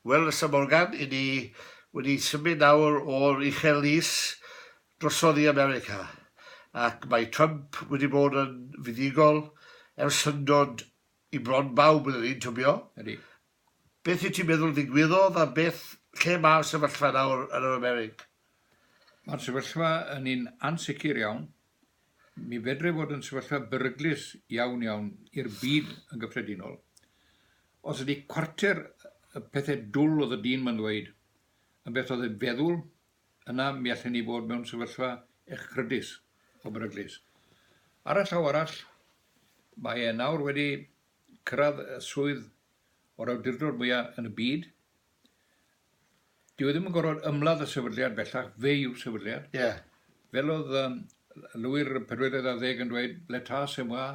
Wel, Lysa Morgan, 'yn ni wedi symud nawr o'r Uchel Lys drosodd i America, ac mae Trump wedi bod yn fuddugol ers syndod i bron bawb iddyn ni, tybio. Ydy. Beth wyt ti'n meddwl ddigwyddodd a beth, lle mae'r sefyllfa nawr yn yr Amerig? Mae'r sefyllfa yn un ansicr iawn. Mi fedrai fod yn sefyllfa beryglus iawn, iawn i'r byd yn gyffredinol. Os ydy cwarter y pethau dwl oedd y dyn mae'n ddweud yn beth oedd ei feddwl, yna mi allen ni fod mewn sefyllfa echrydus o beryglus. Ar y llaw arall, mae e nawr wedi cyrraedd y swydd o'r awdurdod mwyaf yn y byd, Dyw e ddim yn gorfod ymladd y sefydliad bellach, fe yw'r sefydliad. Ie. Fel oedd um, Lwyr y Pedwerydd ar Ddeg yn dweud, l'Etat c'est moi,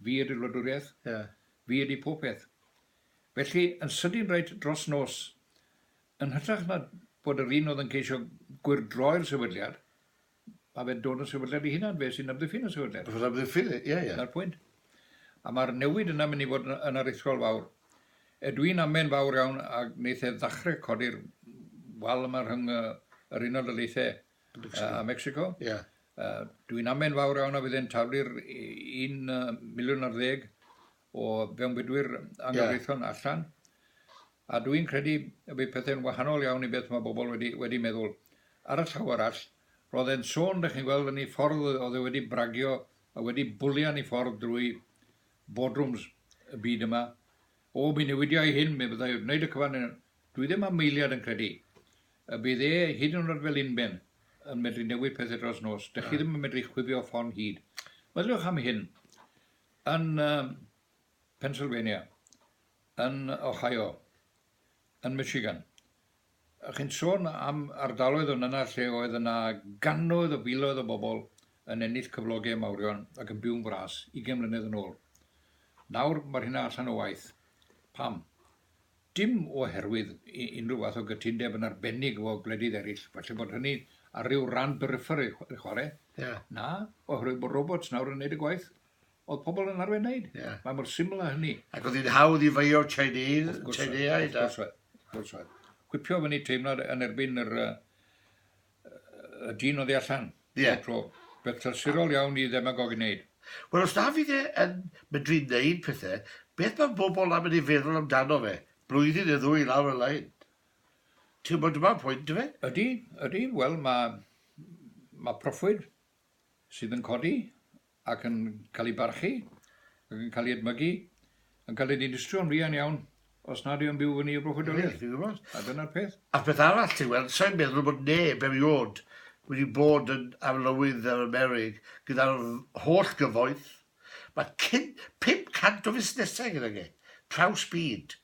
fi ydy'r wladwriaeth, Ie. fi ydy pob peth. Felly, yn sydyn reit dros nos, yn hytrach na bod yr un oedd yn ceisio gwyrdroi'r sefydliad, Mae fe'n dod yn sefydliad ei hunan, fe sy'n amddiffyn y sefydliad. Fe'n amddiffyn, ie, ie. Dyna'r pwynt. A mae'r newid yna mynd i fod yn aruthrol fawr. E, dwi'n amen fawr iawn a wneith e ddachre codi'r wal yma rhwng yr Unol Daleithiau a Mexico. Ie. Dwi'n amen fawr iawn a fydd e'n taflu'r un miliwn ar ddeg o fewnbudwyr anghyfreithlon allan. A dwi'n credu y bydd pethau'n wahanol iawn i beth mae bobl wedi wedi meddwl. Ar y llaw arall, roedd e'n sôn, dych chi'n gweld, yn ei ffordd oedd e wedi bragio a wedi bwlian ei ffordd drwy boardrooms y byd yma, O, mi newidia i hyn, mi fyddai wrth wneud y cyfan yn... Dwi ddim am eiliad yn credu y bydd e, hyd yn oed fel unben, yn medru newid pethau dros nos. Dych chi ddim yn medru chwifio ffon hud. Meddyliwch am hyn, yn Pennsylvania, yn Ohio, yn Michigan. Chi'n sôn am ardaloedd yn yna lle oedd yna gannoedd o filoedd o bobl yn ennill cyflogau mawrion ac yn byw'n fras 20 mlynedd yn ôl. Nawr mae'r hynna allan o waith. Pam? Dim oherwydd unrhyw fath o gytundeb yn arbennig efo gwledydd eraill, falle bod hynny ar ryw ran beriffer i chwarae. Yeah. Na, oherwydd bod robots nawr yn neud y gwaith. Oedd pobl yn arfer wneud. Yeah. Mae mor syml â hynny. Ac oedd hi'n hawdd i feio Chinese, Chineaid. Wrth gwrs oedd. Gwipio fyny teimlad yn erbyn yr, uh, y dyn oedd allan. Ie. Yeah. Beth trysurol iawn i ddemagog i wneud. Wel, os na fydd e yn medru wneud pethau, beth mae bobl am yn ei feddwl amdano fe? Blwyddyn neu ddwy lawr y lain. Ti'n gwybod dyma'r pwynt, dy fe? Ydy, ydy. Wel, mae, mae proffwyd sydd yn codi ac yn cael ei barchu ac yn cael ei edmygu, yn cael ei ddinistrio'n fuan iawn os nad yw'n byw fyny i'r broffwydoliaeth. Ti'n gwybod? A dyna'r peth. A'r peth arall, ti'n gweld, sa i'n meddwl bod neb erioed wedi bod yn arlywydd yr Amerig gyda'r holl gyfoeth. Mae cyn 500 o fusnesau gydag e, traws byd.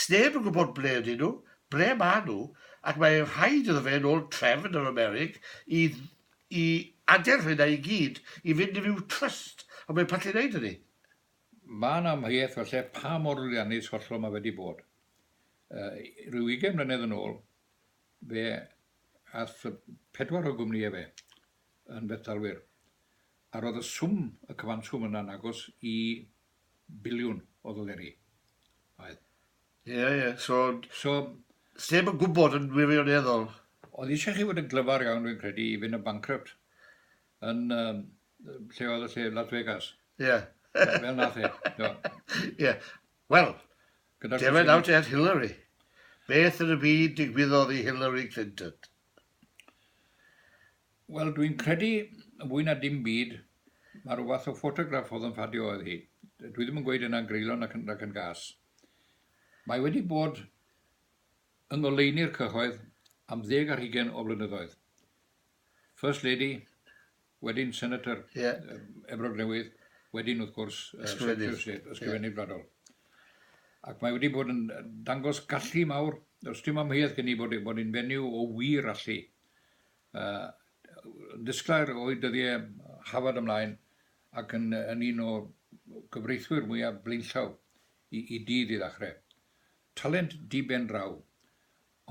Sneb yn gwybod ble ydyn nhw, ble maen nhw, ac mae'n rhaid iddo fe, yn ôl trefn yr Amerig, i i aderyn hynna i gyd i fynd i fyw trust ond mae'n pallu neud hynny. Mae'n amheuaeth falle pa mor lwyddiannus hollol mae fe 'di bod. Rhyw ugain mlynedd yn ôl, fe ath pedwar o gwmnïau fe yn fethdalwyr, a roedd y swm, y cyfanswm yna'n agos i biliwn o ddoleri. Oedd. Ie, ie, so... So... Sneb yn gwybod yn wirioneddol. Oedd eisiau chi fod yn glyfar iawn, dwi'n credu, i fynd yn bankrupt. Yn, um, lle oedd y lle, Las Vegas. Ie. Yeah. Fel nath e. Ie. Wel, defen out at Hillary. Beth yn y byd digwyddodd i Hillary Clinton? Wel, dwi'n credu, yn fwy na dim byd, mae rhyw fath o ffotograff oedd yn ffadio oedd hi. Dwi ddim yn gweud yna'n greulon ac yn, ac yn gas. Mae wedi bod yng ngoleuni'r cyhoedd am ddeg ar hugain o flynyddoedd. First Lady, wedyn Senator yeah. Efrog Newydd, wedyn wrth gwrs uh, Secretary of State, Ysgrifennydd yeah. Gwladol. Ac mae wedi bod yn dangos gallu mawr, os dim amheuaeth gen i bod, e, bod yn fenyw o wir allu. Uh, ddisglair o'i dyddiau hafod ymlaen, ac yn yn un o gyfreithwyr mwyaf blaenllaw i i dydd i ddechrau. Talent diben draw,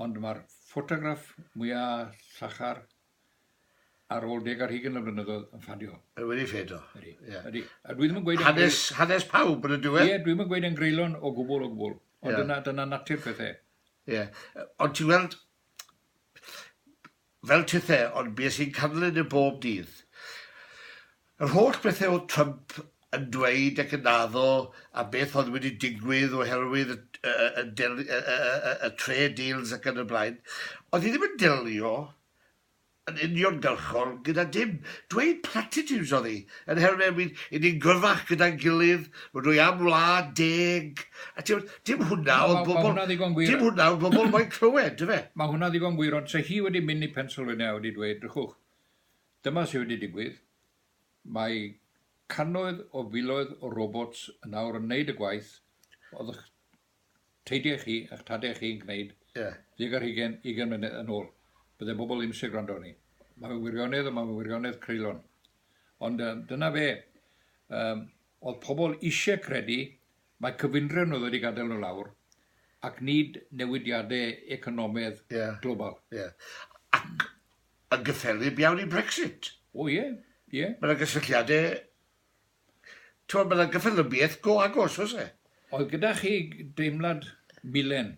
ond mae'r ffotograff mwya llachar ar ôl deg ar hugen o flynyddoedd yn ffadio. Mae wedi ffadio. Ydy. Yeah. Ydy. A dwi ddim yn gweud... Hanes, hanes pawb yn y diwedd. Ie, yeah, dwi'n yn gweud yn greulon o gwbl o gwbl. Ond yeah. dyna, dyna natur pethau. Ie. Yeah. Ond ti'n gweld, fel tithe, ond bues i'n canlyn e bob dydd. Yr holl bethe oedd Trump yn dweud ac yn addo a beth oedd wedi digwydd oherwydd y trade deals ac yn y blaen, oedd hi ddim yn delio yn uniongyrchol gyda dim. Dweud platitudes oedd hi. Yn her neu myn i ni'n gyrfach gyda'n gilydd, rydw dwi am wlad deg, a t'mod, dim hwnna oedd bobl, dim hwnna oedd bobl moyn clywed, dyfe? Mae hwnna'n ddigon gwir, ond 'se hi wedi mynd i Pennsylvania a wedi dweud, drychwch, dyma sydd wedi digwydd, mae cannoedd o filoedd o robots yn awr yn neud y gwaith, oeddech Teithiau chi a'ch tadau chi'n gwneud gig ar hugain, ugain mlynedd yn ôl, bydde pobl ddim isie gwrando arni. Mae fe'n wirionedd ond mae fe'n wirionedd creulon. Ond dyna fe. Yym, oedd pobl isie credu mae cyfundrefn oedd wedi gadael nhw lawr ac nid newidiadau economedd global. Ie. Ac yn gyffelyb iawn i Brexit. O ie, ie. Mae yna gysylltiadau T'mod ma' 'na gyffelybiaeth go agos oes e? Oedd gyda chi deimlad milen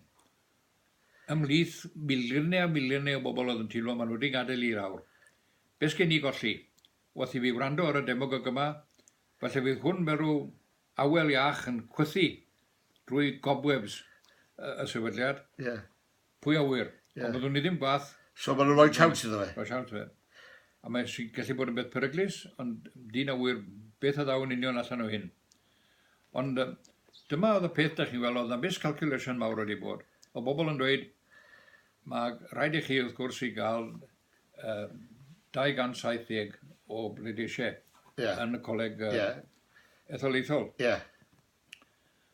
ymhlith miliyne a miliyne o bobl oedd yn teimlo ma' nhw wedi gadael i'r awr? Be' sgen ni golli? Wrth i fi wrando ar y demogog yma, falle fydd hwn fel rhyw awel iach yn chwythu drwy gobwebs y sefydliad. Ie. Pwy a ŵyr. Ie. Ond byddwn i ddim gwath. So maen nhw'n rhoi siawns iddo fe? Rhoi siawns iddo fe. A mae'n gallu bod yn beth peryglus, ond dyn a ŵyr beth a ddaw yn union allan o hyn. Ond dyma oedd y peth da chi'n weld, oedd na miscalculation mawr wedi bod. O bobl yn dweud, mae rhaid i chi wrth gwrs i gael uh, 270 o bleidleisiau yeah. yn y coleg uh, yeah. etholaethol. Yeah.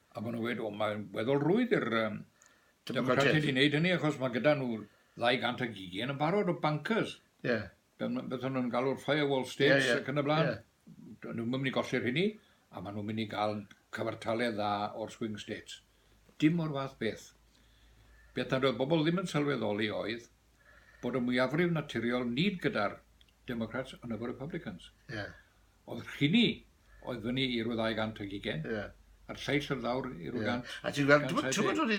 Ac o'n nhw'n gweud, o, mae'n weddol rwydd i'r um, Democratiaid i wneud hynny, achos mae gyda nhw 200 ag ugain yn barod o bancers. Ie. Yeah. Beth o'n nhw'n galw'r firewall states yeah, yeah. ac yn y blaen. Yeah. Nhw'n mynd i golli'r hynny, a maen nhw'n mynd i gael cyfartaledd dda o'r swing states. Dim o'r fath beth. Beth nad oedd bobl ddim yn sylweddoli oedd bod y mwyafrif naturiol nid gyda'r Democrats ond efo'r Republicans. Yeah. Oedd rhini oedd fyny i rw ddau gant ag ugen, yeah. a'r lleill oedd lawr i rw gant. Yeah. A ti'n gweld, ti'n gweld, ti'n gweld,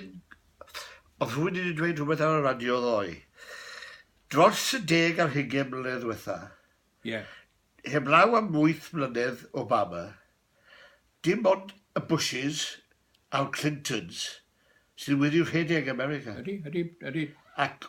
oedd rhywun wedi dweud rhywbeth ar y radio ddoe. Dros y deg ar hugen mlynedd diwetha, yeah. heblaw am wyth mlynedd Obama, dim ond y Bushes a'r Clintons sydd wedi rhedeg America. Ydy, ydy, ydy. Ac